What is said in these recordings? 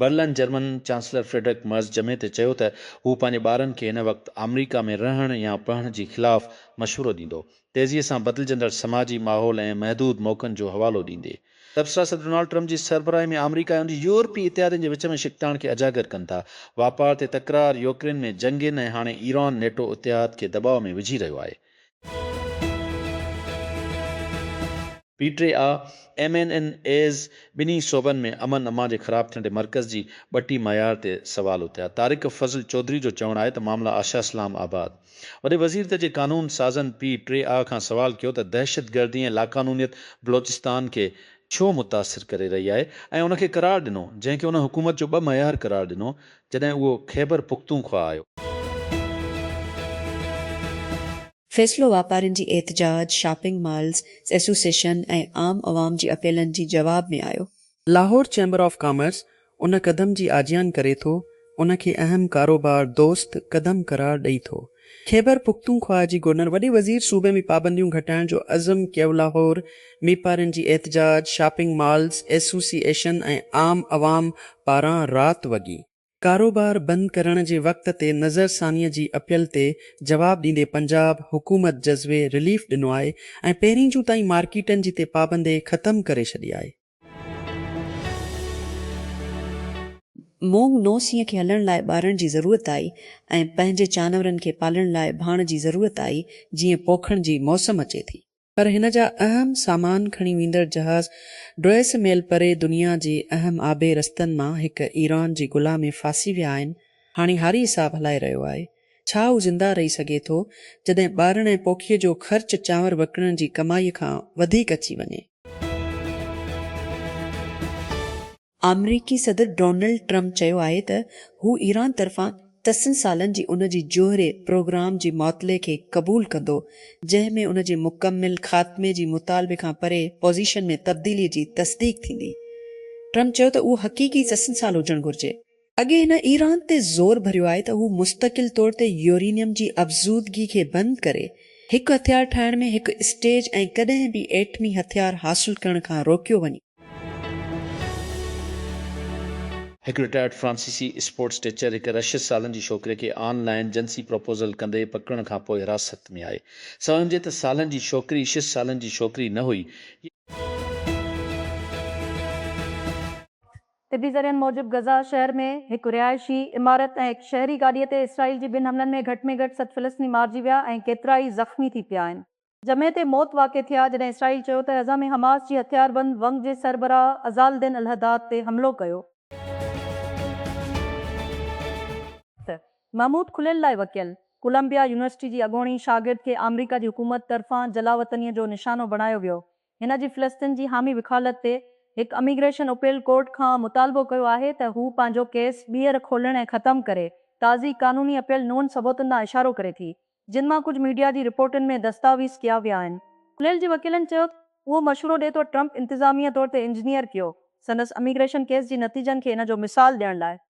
Berlin German chancellor Friedrich Merz جمعي تي چيو ته هو پنهنجي ٻارن کي هن وقت آمريڪا ۾ رهڻ يا پڙهڻ جي خلاف مشورو ڏيندو، تيزيء سان بدلجندڙ سماجي ماحول ۽ محدود موقعن جو حوالو ڏيندي. تبصرا صدر ڊونالڊ ٽرمپ جي سربراهي ۾ آمريڪا ۽ ان جي يورپي اتحادين جي وچ ۾ ڇڪتاڻ کي اجاگر ڪن ٿا. واپار تي تڪرار، يوڪرين ۾ جنگين ۽ هاڻي ايران نيٽو اتحاد کي دٻاء ۾ وجهي رهيو آهي. P T I M N N As ٻنهي صوبن ۾ امن امان جي خراب ٿيڻ تي مرڪز جي ٻٽي معيار تي سوال اٿيا، طارق فضل چوڌري جو چوڻ آهي ته معاملا آشا اسلام آباد وڏي وزير ته جي قانون سازن پي ٽي آء کان سوال ڪيو ته دهشت گردي ۽ لاقانونيت بلوچستان کي ڇو متاثر ڪري رهي آهي ۽ ان کي قرار ڏنو جنهن کي ان حڪومت جو ٻه معيار قرار ڏنو جڏهن اهو خيبر پختونخوا آيو. فيصلو واپارين جي احتجاج، شاپنگ مالز ايسوسيئشن ۽ عام عوام جي اپيلن جي جواب ۾ آيو. لاهور چيمبر آف ڪامرس ان قدم جي آجيان ڪري ٿو، ان کي اهم ڪاروبار دوست قدم قرار ڏئي ٿو. خيبر پختونخوا جي گورنر وڏي وزير صوبي ۾ پابنديون گهٽائڻ جو عزم ڪيولاهور ۾ پارين جي احتجاج، شاپنگ مالز ايسوسي ايشن ۽ عام عوام پاران رات وڳي. ڪاروبار بند ڪرڻ جي وقت تي نظر ثانيء جي اپيل تي جواب ڏيندي پنجاب حڪومت جزوي رليف ڏنو آهي ۽ پهرين جون تائين مارڪيٽن جي تي پابندي ختم ڪري ڇڏي آهي. مونگ نو سين کي هلڻ لاء ٻارڻ جي ضرورت آئي ۽ پنهنجي چانورن کي پالڻ لاء ڀاڻ جي ضرورت آئي جيئن پوکڻ جي موسم اچي ٿي. پر هن جا اهم سامان کڻي ويندڙ جهاز ڊوئس ميل پري دنيا جي اهم آبي رستن مان هڪ ايران جي گلا ۾ ڦاسي ويا آهن هاڻي هاري صاحب هلائي رهيو آهي ڇا هو زنده رهي سگهي ٿو جڏهن ٻارڻ ۽ پوکيء جو خرچ چانور وڪڻڻ جي ڪمائي کان وڌيڪ اچي وڃي. آمريڪي صدر ڊونلڊ ٽرمپ چيو آهي ته هو ايران طرفان تسن سالن جي ان جي جوهري پروگرام جي معطلي کي قبول ڪندو جنهن ۾ ان جي مڪمل خاتمي جي مطالبي کان پري پوزيشن ۾ تبديلي جي تصديق ٿيندي. ٽرمپ چيو ته اهو حقيقي تسن سال هجڻ گهرجي. اڳي هن ايران تي زور ڀريو آهي ته هو مستقل طور تي يورينيم جي افزودگي کي بند ڪري، هڪ هٿيار ٺاهڻ ۾ هڪ اسٽيج ۽ ڪڏهن به ايٽمي هٿيار حاصل ڪرڻ کان روڪيو وڃي. هڪ رٽائرڊ فرانسيسي اسپورٽس ٽيچر هڪ رشيس سالن جي ڇوڪري کي آن لائن جنسي پروپوزل ڪندي پڪڙڻ کان پوء حراست ۾ آهي. سوين هجي ته سالن جي ڇوڪري شيس سالن جي ڇوڪري نه هئي. طبي ذريعن موجب غزه شهر ۾ هڪ رهائشي عمارت ۽ هڪ شهري گاڏي تي اسرائيل جي ٻن حملن ۾ گهٽ ۾ گهٽ ست فلسطيني مارجي ويا ۽ ڪيترائي زخمي ٿي پيا آهن. جمعي تي موت واقع ٿي آهي جڏهن اسرائيل چيو ته غزه ۾ حماس جي هٿياربند ونگ جي سربراهه عزال دين الحداد تي حملو ڪيو. ته محمود کليل لاء وڪيل ڪولمبيا يونيورسٽي جي اڳوڻي شاگرد کي آمريڪا جي حڪومت طرفان جلاوطنيء جو نشانو بڻايو ويو هن جي فلسطين جي حامي وڪالت تي هڪ اميگريشن اپيل ڪورٽ کان مطالبو ڪيو آهي ته هو پنهنجو ڪيس ٻيهر کولڻ ۽ ختم ڪري. تازي قانوني اپيل نون ثبوتن ڏانهن اشارو ڪري ٿي، جن مان ڪجهه ميڊيا جي رپورٽن ۾ دستاويز ڪيا ويا آهن. کليل جي وڪيلن چيو ته اهو مشورو ڏي ٿو ٽرمپ انتظاميه طور تي انجنيئر ڪيو سندس اميگريشن ڪيس جي نتيجن کي ان جو مثال ڏيڻ لاء.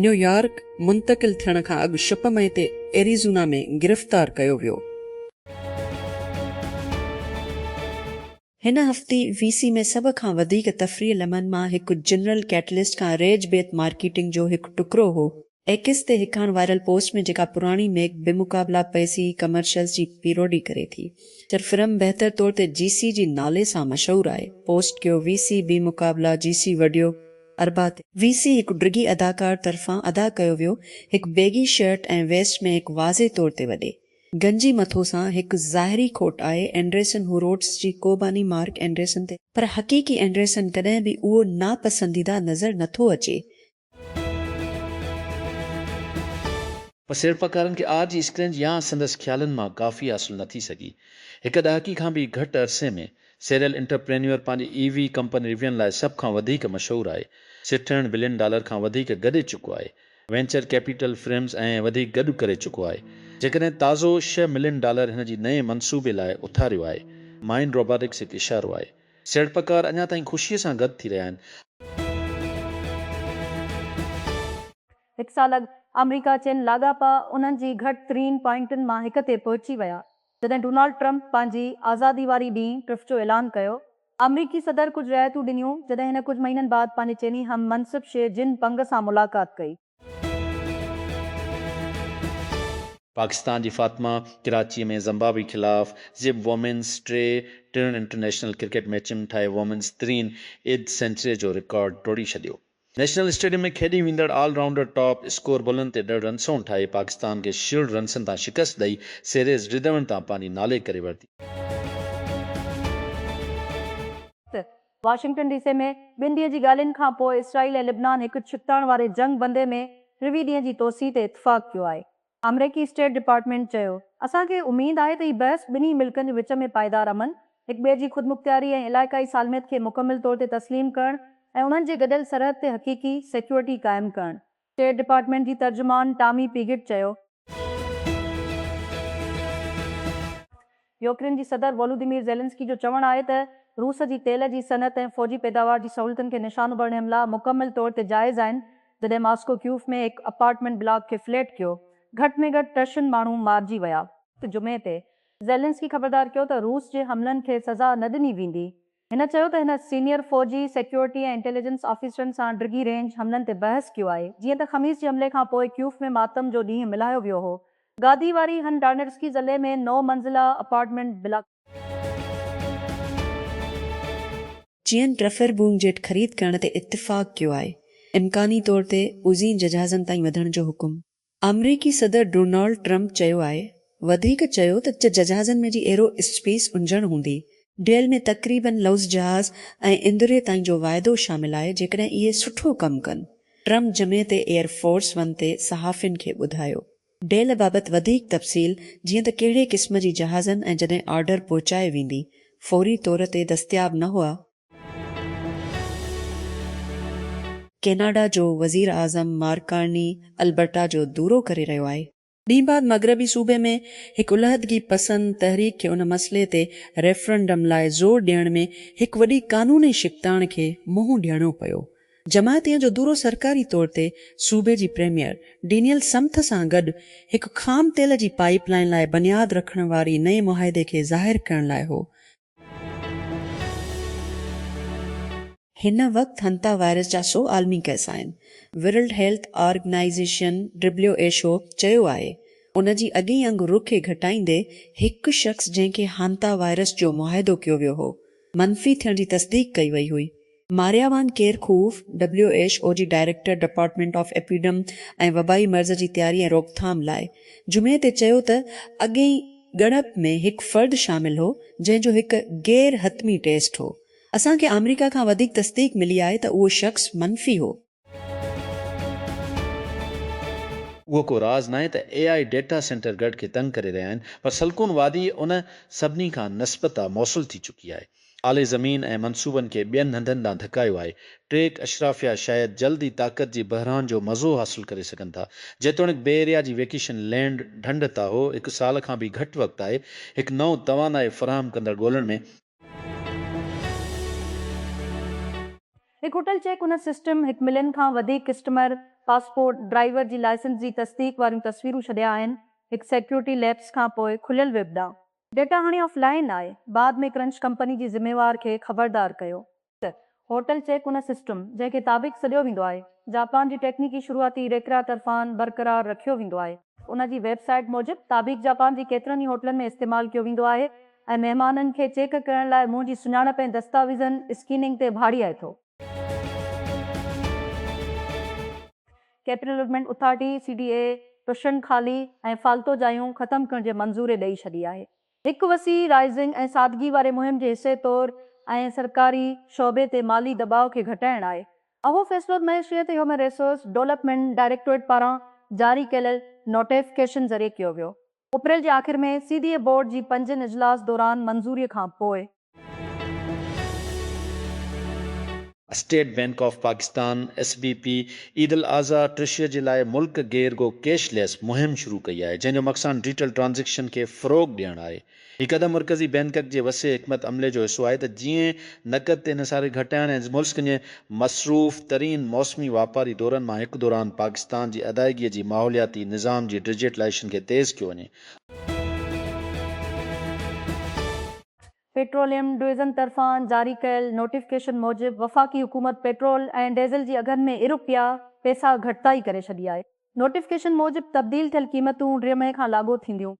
نيويارڪ منتقل ٿيڻ کان اڳ شپ مئي تي ايريزونا ۾ گرفتار ڪيو ويو. هن هفتي وي سي ۾ سڀ کان وڌيڪ تفريح لمحن مان هڪ جنرل ڪيٽلسٽ کان ريج بيت مارڪيٽنگ جو هڪ ٽڪرو هو. ايڪس تي هڪاڻ وائرل پوسٽ ۾ جيڪا پراڻي ميڪ بمقابلا پي سي ڪمرشلز جي پيروڊي ڪري ٿي جر فرم بهتر طور تي جي سي جي نالي سان مشهور آهي پوسٽ ڪيو وي سي بمقابلا جي سي وڊيو اربع تي وي سي هڪ ڊگهي اداڪار طرفان ادا ڪيو ويو هڪ بيگي شرٽ ۽ ويسٽ ۾ هڪ واضح طور تي وڏي گنجي مٿو سان هڪ ظاهري کوٽ آهي اينڊريسن هو روڊس جي قوباني مارڪ اينڊريسن تي پر حقيقي اينڊريسن ڪڏهن به اهو ناپسنديده نظر نٿو اچي. پر سيڙپڪارن کي آر جي اسڪرينج يا سندس خيالن مان ڪافي حاصل نٿي سگهي هڪ ڏهاڪي کان به گهٽ عرصي ۾ سيريل انٽرپرينيور پنهنجي اي وي ڪمپني ريوين لاء سڀ کان وڌيڪ مشهور آهي. سٺڻ بلين ڊالر کان وڌيڪ گڏي چڪو آهي. وينچر ڪيپيٽل فرمز ۽ وڌيڪ گڏ ڪري چڪو آهي. جيڪڏهن تازو ڇهه ملين ڊالر هن جي نئين منصوبي لاء اٿاريو آهي. مائنڊ روباٽڪس هڪ اشارو آهي. سيڙپڪار اڃا تائين خوشي سان گڏ ٿي رهيا آهن. هڪ سال اڳ آمريڪا چين لاڳاپا انهن جي گهٽ ترين پوائنٽن مان هڪ تي پهچي ويا. جڏهن ڊونالڊ ٽرمپ پنهنجي آزادي واري ڏينهن ٽرف جو اعلان ڪيو، آمريڪي صدر ڪجهه رعايتون ڏنيون، جڏهن هن ڪجهه مهينن بعد پنهنجي چيني هم منصب شي جن پنگ سان ملاقات ڪئي. پاڪستان جي فاطمه ڪراچي ۾ زمبابوي خلاف زب وومينز ٽي ٽرن انٽرنيشنل ڪرڪيٽ ميچن ۾ ٺاهي وومينز ترين ايد سينچري جو رڪارڊ ٽوڙي ڇڏيو. نيشنل اسٽيڊيم ۾ کيڏي ويندڙ آل رائونڊر ٽاپ اسڪور بولن تي ڏھه رنسون ٺاھي پاڪستان کي شيلڊ رنسن تان شڪست ڏئي سيريز ڊدوڻ تان پنھنجي نالي ڪري ورتي. واشنگٽن ڊي سي ۾ ٻن ڏينهن جي ڳالهين کان پوء اسرائيل ۽ لبنان هڪ ڇڪتاڻ واري جنگ بندي ۾ ٽيوي ڏينهن جي توسيع تي اتفاق ڪيو آهي. آمريڪي اسٽيٽ ڊپارٽمينٽ چيو، اسان کي اميد آهي ته هي بحث ٻنهي ملڪن جي وچ ۾ پائيدار امن، هڪٻئي جي خودمختياري ۽ علائقائي سالميت کي مڪمل طور تي تسليم ڪرڻ ۽ انهن جي گڏيل سرحد تي حقيقي سيڪيورٽي قائم ڪرڻ اسٽيٽ ڊپارٽمينٽ جي ترجمان ٽامي پيگٽ چيو. يوڪرين جي صدر وولوديمير زيلنسڪي جو چوڻ آهي ته روس جي تيل جي صنعت ۽ فوجي پيداوار جي سهولتن کي نشانو ڀرڻ حملا مڪمل طور تي جائز آهن جڏهن ماسڪو ڪيوف ۾ هڪ اپارٽمينٽ بلاڪ کي فليٽ ڪيو گهٽ ۾ گهٽ ٽه شن ماڻهو مارجي ويا. جمعي تي زيلنسڪي خبردار ڪيو ته روس جي حملن کي سزا نه ڏني ويندي هن چيو ته هن سينيئر فوجي، سيڪيورٽي ۽ انٽيليجنس آفيسرن سان ڊگهي رينج حملن تي بحث ڪيو آهي، جيئن ته خميس جي حملي کان پوء ڪيوف ۾ ماتم جو ڏينهن ملهايو ويو هو. گادي واري هن ڊارنيٽسڪي ضلعي ۾ نو منزله اپارٽمينٽ بلاڪ. چين رفير بوم جيٽ خريد ڪرڻ تي اتفاق ڪيو آهي، امڪاني طور تي عظيم ججهازن تائين وڌڻ جو حڪم. آمريڪي صدر ڊونالڊ ٽرمپ چيو آهي وڌيڪ چيو ته چه ججهازن ۾ جي ايرو اسپيس انجڻ هوندي. ڊيل ۾ تقريبن لوز جهاز ۽ اندري تائين جو واعدو شامل آهي جيڪڏهن اهي سٺو ڪم ڪن. ٽرمپ جمعي تي ايئر فورس ون تي صحافين کي ٻڌايو ڊيل بابت وڌيڪ تفصيل جيئن ته ڪهڙي قسم جي جهازن ۽ جڏهن آرڊر پهچائي ويندي فوري طور تي دستياب نه هئا، ڪيناڊا جو وزير اعظم مارڪ ڪارني البرٽا جو دورو ڪري رهيو آهي. ڏينهن بعد مغربي صوبي ۾ هڪ علحدگي پسند تحريڪ کي ان مسئلي تي ريفرنڊم لاء زور ڏيڻ ۾ هڪ وڏي قانوني شڪتاڻ کي منهن ڏيڻو پيو. جماعتين جو دورو سرڪاري طور تي صوبي جي پريميئر ڊينيل سمٿ سان گڏ هڪ خام تيل جي پائيپ لائين لاء بنياد رکڻ واري نئين معاهدي کي ظاهر ڪرڻ لاء هو هن وقت هنتا وائرس جا سؤ عالمي ڪيس آهن. World Health Organization, W H O, چيو آهي، ان جي اڳئين انگ رخ کي گهٽائيندي هڪ شخص جنهن کي هانتا وائرس جو معاهدو ڪيو ويو هو، منفي ٿيڻ جي تصديق ڪئي وئي هئي. Maria Van Kerkhove, W H O جي ڊائريڪٽر ڊپارٽمينٽ آف ايپيڊم ۽ وبائي مرض جي تياري ۽ روڪٿام لاء، جمعي تي چيو ته اڳئين ڳڻپ ۾ هڪ فرد شامل هو، جنهن جو هڪ غير حتمي ٽيسٽ هو. اسان کي آمريڪا کان وڌيڪ تصديق ملي آهي ته اهو شخص منفي هو. اهو ڪو راز ناهي ته اي آء ڊيٽا سينٽر گڙھ کي تنگ ڪري رهيا آهن پر سلڪون وادي ان سڀني کان نسبتا موصل ٿي چڪي آهي. اعلي زمين ۽ منصوبن کي ٻين هنڌن ڏانهن ڌڪايو آهي. ٽيڪ اشرافيا شايد جلد ئي طاقت جي بحران جو مزو حاصل ڪري سگهن ٿا. جيتوڻيڪ بي ايريا جي ويڪيشن لينڊ ڍنڍ تاهو هڪ سال کان به گهٽ وقت آهي هڪ نئون توانائي فراهم ڪندڙ ڳولڻ ۾، هڪ هوٽل چيڪ ان سسٽم هڪ ملين کان وڌيڪ ڪسٽمر پاسپورٽ، ڊرائيور جي لائسنس جي تصديق واريون تصويرون ڇڏيا آهن، هڪ سيڪيورٽي ليپس کان پوء کليل ويب ڏانهن. ڊيٽا هاڻي آف لائن آهي، بعد ۾ ڪرنچ ڪمپني جي ذميوار کي خبردار ڪيو. ته هوٽل چيڪ ان سسٽم، جنهن کي تابيڪ سڏيو ويندو آهي، جاپان جي ٽيڪنيڪي شروعاتي ريڪرا طرفان برقرار رکيو ويندو آهي. ان جي ويب سائيٽ موجب، تابيڪ جاپان جي ڪيترن ئي هوٽلن ۾ استعمال ڪيو ويندو آهي ۽ مهمانن کي چيڪ ڪرڻ لاء منهن جي سڃاڻپ ۽ دستاويزن اسڪيننگ تي ڀاڙي آئي ٿو. Capital Development Authority, C D A, ٽشن خالي ۽ فالتو جايون ختم ڪرڻ جي منظوري ڏئي ڇڏي آهي. هڪ وسيع رائزنگ ۽ سادگي واري مهم جي حصي طور ۽ سرڪاري شعبي تي مالي دٻاء کي گهٽائڻ آهي. اهو فيصلو معيشيت هيومن ريسورس ڊولپمينٽ ڊائريڪٽوريٽ پاران جاري ڪيل نوٽيفڪيشن ذريعي ڪيو ويو. اپريل جي آخر ۾ سي ڊي اي بورڊ جي پنجين اجلاس دوران منظوري کان پوء، State Bank of Pakistan, S B P, عيدالاضحيٰ ٽريشري جي لاء ملڪ گير گو ڪيش ليس مهم شروع ڪئي آهي جنهن جو مقصان ڊيجيٽل ٽرانزيڪشن کي فروغ ڏيڻ آهي. هي قدم مرڪزي بينڪڪ جي وسيع حڪمت عملي جو حصو آهي ته جيئن نقد تي انحصار کي گهٽائڻ ۽ ملڪ جي مصروف ترين موسمي واپاري دورن مان هڪ دوران پاڪستان جي ادائيگي جي ماحولياتي نظام جي ڊيجيٽلائيشن کي تيز ڪيو وڃي. پيٽروليم ڊويزن طرفان جاري ڪيل نوٽيفڪيشن موجب وفاقي حڪومت پيٽرول ۽ ڊيزل جي اگهن ۾ ارب پيا پيسا گهٽتائي ڪري ڇڏي آهي، نوٽيفڪيشن موجب تبديل ٿيل قيمتون ڙي مئي کان لاڳو ٿينديون.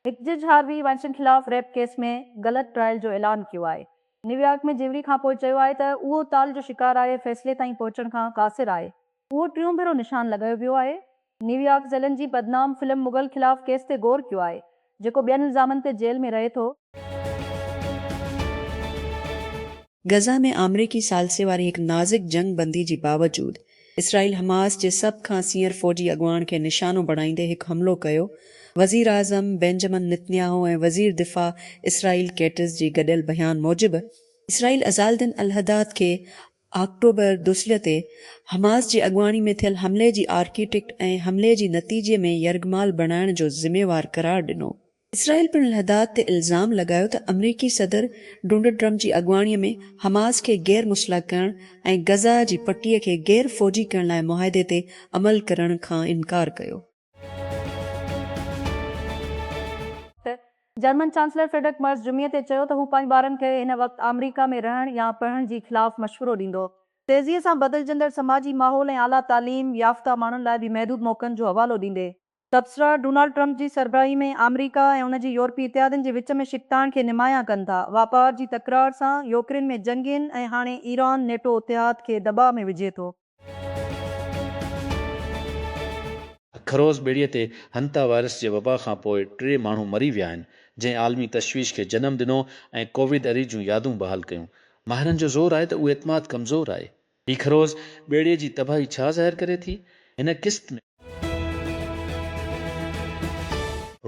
هڪ جج هاروي وائنسٽين خلاف ريپ ڪيس ۾ غلط ٽرائل جو اعلان ڪيو آهي، نيويارڪ ۾ جيوري کانپوء چيو آهي ته اهو تال جو شڪار آهي، فيصلي تائين پهچڻ کان قاصر آهي، اهو ٽيون ڀيرو نشان لڳايو ويو آهي. نيويارڪ ذيلن جي بدنام فلم مغل خلاف ڪيس تي غور ڪيو آهي، جيڪو ٻين الزامن تي جيل ۾ رهي ٿو. غزه ۾ آمريڪي ثالثي واري هڪ نازڪ جنگ بندي جي باوجود اسرائيل حماس جي سڀ کان سينئر فوجي اڳواڻ کي نشانو بڻائيندي هڪ حملو ڪيو، وزيراعظم بينجمن نتنياهو ۽ وزير دفاع اسرائيل ڪيٽز جي گڏيل بيان موجب اسرائيل عزالدين الحداد کي آڪٽوبر دوسلي تي حماس جي اڳواڻي ۾ ٿيل حملي جي آرڪيٽيڪٽ ۽ حملي جي نتيجي ۾ يرغمال بڻائڻ جو ذميوار قرار ڏنو. اسرائيل پڻ الحداد تي الزام لڳايو ته آمريڪي صدر ڊونلڊ ٽرمپ جي اڳواڻي ۾ حماس کي غير مسلح ڪرڻ ۽ غزه جي پٽي کي غير فوجي ڪرڻ لاء معاهدي تي عمل ڪرڻ کان انڪار ڪيو. جرمن چانسلر فريڊرڪ مرز جمعي تي چيو ته هو پنهنجي ٻارن کي هن وقت آمريڪا ۾ رهڻ يا پڙهڻ جي خلاف مشورو ڏيندو. تيزيء سان بدلجندڙ سماجي ماحول ۽ اعليٰ تعليم يافته ماڻهن لاء بي محدود موقعن جو حوالو ڏيندي. تبصرا، ڊونالڊ ٽرمپ جي سربراهي ۾ آمريڪا ۽ ان جي يورپي اتحادين جي وچ ۾ ڇڪتاڻ کي نمايان ڪن ٿا، واپار جي تڪرار سان، يوڪرين ۾ جنگين ۽ هاڻي ايران نيٽو اتحاد کي دٻاء ۾ وجهي ٿو. خروس ٻيڙيء تي هنتا وائرس جي وبا کان پوء ٽي ماڻهو مري ويا آهن، جنهن عالمي تشويش کي جنم ڏنو ۽ ڪوويد اري جون يادون بحال ڪيون. ماهرن جو زور آهي ته اهو اعتماد ڪمزور آهي. هي خروس ٻيڙيء جي تباهي ڇا ظاهر ڪري ٿي؟ هن قسط ۾.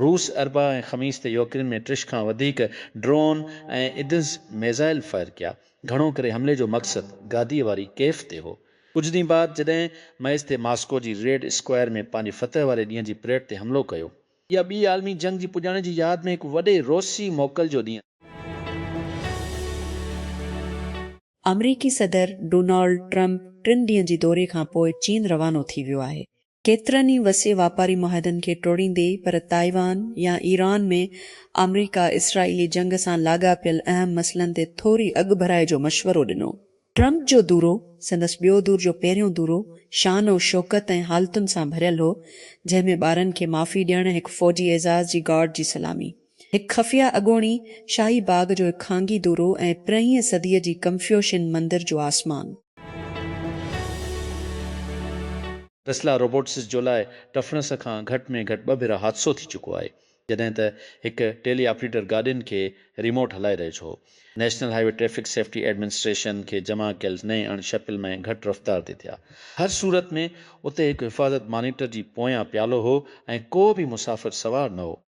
روس اربع ۽ خميس تي يوڪرين ۾ ٽيش کان وڌيڪ ڊرون ۽ ايدز ميزائل فائر ڪيا، گهڻو ڪري حملي جو مقصد گاديء واري ڪيف تي هو. ڪجهه ڏينهن بعد جڏهن مئيستي ماسڪو جي ريڊ اسڪوائر ۾ پنهنجي فتح واري ڏينهن جي پريڊ تي حملو ڪيو. اها ٻي عالمي جنگ جي پڄاڻي جي ياد ۾ هڪ وڏي روسي موڪل جو ڏينهن آهي. آمريڪي صدر ڊونالڊ ٽرمپ ٽن ڏينهن جي دوري کانپوء چين روانو ٿي ويو آهي. ڪيترن ئي وسيع واپاري معاهدن کي ٽوڙيندي پر تائيوان يا ايران ۾ آمريڪا اسرائيلي جنگ سان لاڳاپيل اهم مسئلن تي ٿوري اڳڀرائي جو مشورو ڏنو. ٽرمپ جو دورو، سندس ٻيو دور جو پهريون دورو شان و شوڪت ۽ حالتن سان ڀريل هو، جنهن ۾ ٻارن کي معافي ڏيڻ، هڪ فوجي اعزاز جي گارڊ جي سلامي، هڪ خفيه اڳوڻي شاهي باغ جو هڪ خانگي دورو ۽ پرينهينء صديء جي ڪنفيوشين مندر جو آسمان. ٽسلا روبوٽسز جو لاء ٽفنس کان گهٽ ۾ گهٽ ٻه ڀيرا حادثو ٿي چڪو آهي جڏهن ته هڪ ٽيلي آپريٽر گاڏين کي ريموٽ هلائي رهيو ڇو National Highway Traffic Safety Administration کي جمع ڪيل نئين اڻ شڪل ۾ گهٽ رفتار تي ٿيا هر صورت ۾ اتي هڪ حفاظت مانيٽر جي پويان پيالو هو ۽ ڪو به مسافر سوار نه هو.